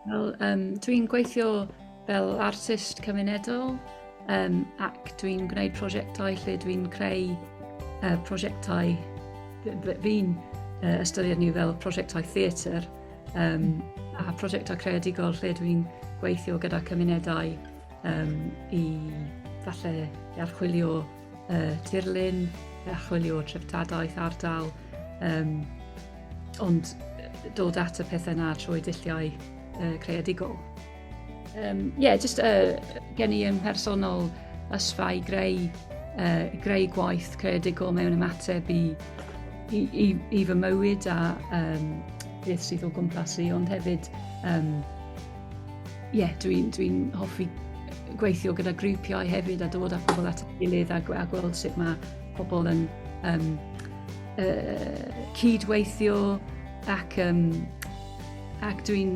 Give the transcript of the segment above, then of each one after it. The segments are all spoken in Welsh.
Wel, um, dwi'n gweithio fel artist cymunedol um, ac dwi'n gwneud prosiectau lle dwi'n creu uh, prosiectau fi'n uh, ystyried nhw fel prosiectau theatr um, a prosiectau creadigol lle dwi'n gweithio gyda cymunedau Um, I falle i archwilio uh, tirlun, i archwilio treftadaeth ardal, um, ond dod at y pethau na trwy dilliau uh, creadigol. Ie, um, yeah, jyst uh, gen i yn personol ysfa i greu, uh, greu gwaith creadigol mewn ymateb i, i, i, i fy mywyd a um, beth sydd o gwmpas i, ond hefyd um, Ie, yeah, dwi'n dwi, hoffi gweithio gyda grwpiau hefyd a dod â pobl at ei gilydd a, a gweld sut mae pobl yn um, uh, cydweithio ac, um, ac dwi'n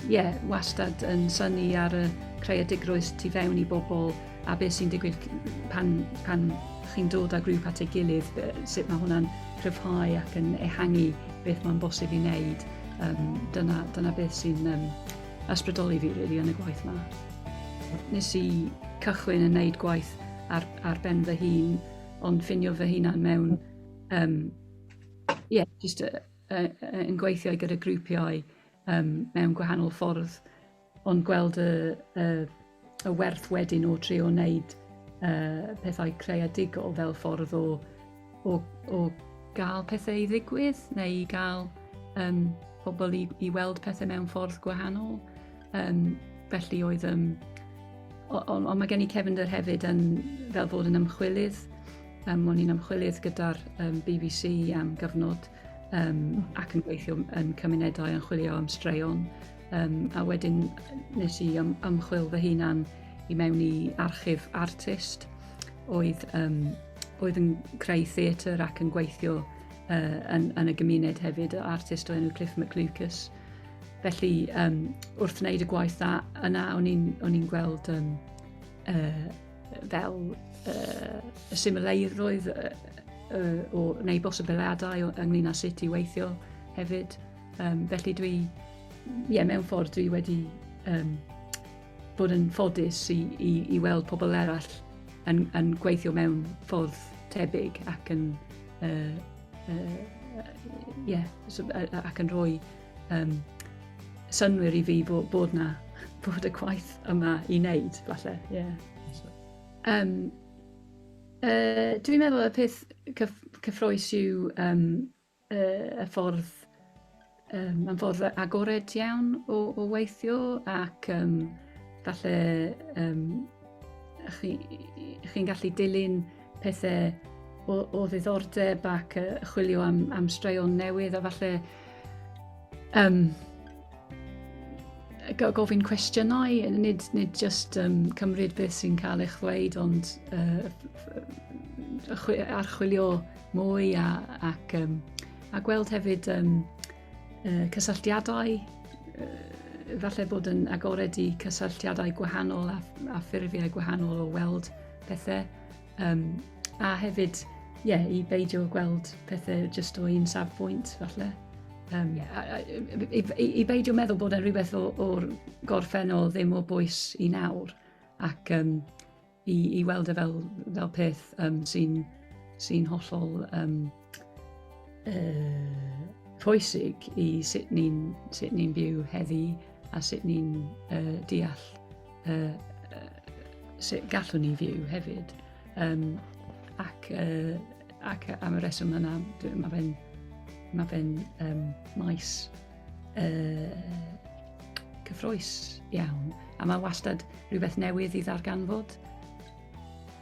yeah, wastad yn syni ar y creadigrwydd tu fewn i bobl a beth sy'n digwydd pan, pan chi'n dod â grŵp at ei gilydd, sut mae hwnna'n cryfhau ac yn ehangu beth mae'n bosib i wneud. Um, dyna, dyna beth sy'n um, ysbrydoli fi really, yn y gwaith yma. Nes i cychwyn yn wneud gwaith ar, ar ben fy hun, ond ffinio fy hunan mewn, um, yeah, just uh, uh, yn gweithio gyda grwpiau um, mewn gwahanol ffordd Ond gweld y, y, y werth wedyn o trio wneud uh, pethau creadigol fel ffordd o, o, o gael pethau i ddigwydd neu i gael um, pobl i, i weld pethau mewn ffordd gwahanol. Um, felly oedd... Um, ond on, on mae gen i cefnder hefyd yn, fel fod yn ymchwilydd. Um, o'n i'n ymchwilydd gyda'r um, BBC am gyfnod um, ac yn gweithio yn cymunedau yn chwilio am straeon. Um, a wedyn nes i ym, ymchwil fy hunan i mewn i archif artist oedd, um, oedd yn creu theatr ac yn gweithio uh, yn, yn y gymuned hefyd, artist o enw Cliff McLucas. Felly, um, wrth wneud y gwaith yna, o'n i'n gweld um, uh, Fel uh, y simileiddoedd uh, uh, o, neu bosibiliadau ynglyn â sut i weithio hefyd. Um, felly dwi, ie, yeah, mewn ffordd dwi wedi um, bod yn ffodus i, i, i weld pobl eraill yn, yn gweithio mewn ffordd tebyg ac yn uh, uh, yeah, ac yn rhoi um, synwyr i fi bod, bod na, bod y gwaith yma i wneud, falle, ie. Yeah. Um, uh, dwi'n meddwl y peth cyf cyffroes yw um, uh, y ffordd, um, mae'n ffordd agored iawn o, o weithio ac um, falle um, chi'n chi gallu dilyn pethau o, o ddiddordeb ac uh, chwilio am, am straeon newydd a falle Um, gofyn cwestiynau, nid, nid just um, cymryd beth sy'n cael eich ddweud, ond uh, archwilio mwy a, ac, um, a gweld hefyd um, uh, cysylltiadau, uh, falle bod yn agored i cysylltiadau gwahanol a, a ffurfiau gwahanol o weld pethau. Um, a hefyd, ie, yeah, i beidio gweld pethau jyst o un safbwynt, falle. Um, yeah. i, i, I beidio meddwl bod e'n rhywbeth o'r gorffennol ddim o bwys i nawr, ac um, i, i weld e fel, fel peth um, sy'n sy hollol um, uh, pwysig i sut ni'n ni byw heddi a sut ni'n uh, deall uh, uh, sut gallwn ni fyw hefyd. Um, ac, uh, ac am y reswm yna, mae fe'n ma fe um, maes uh, cyffroes iawn. A mae wastad rhywbeth newydd i ddarganfod.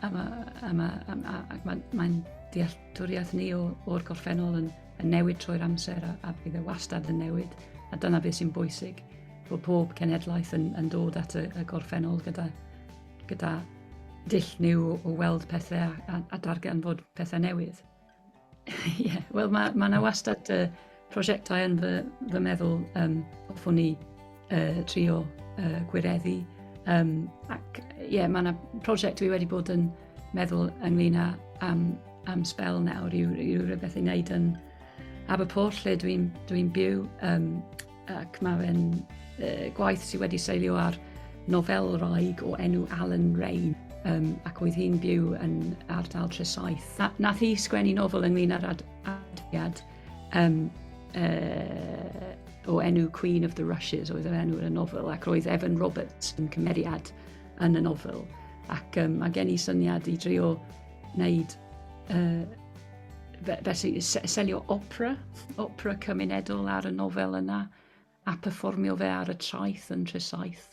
A mae ma, ma, ma, ma, ma, ma deall Dealltwriaeth ni o'r gorffennol yn newid trwy'r amser a bydd e wastad yn newid, a dyna beth sy'n bwysig, bod pob cenhedlaeth yn dod at y gorffennol gyda dull niw o weld pethau a darganfod pethau newydd. Ie, wel mae 'na wastad Prosiectau yn fy, fy meddwl, um, hoffwn i uh, trio uh, gwireddu. Um, ac ie, yeah, mae yna prosiect dwi wedi bod yn meddwl ynglyn â am, am spel nawr i, i rhywbeth i wneud yn Aberporth lle dwi'n dwi, byw um, ac mae fe'n uh, gwaith sydd wedi seilio ar nofel raig o enw Alan Rain um, ac oedd hi'n byw yn ardal Tresaeth. Na, nath hi sgwennu nofel ynglyn â'r ad, ad, Um, uh, o enw Queen of the Rushes oedd yr enw yn y nofel ac roedd Evan Roberts yn cymeriad yn y nofel ac um, mae gen i syniad i drio wneud uh, felly selio opera, opera cymunedol ar y nofel yna a performio fe ar y traeth yn Tresaeth.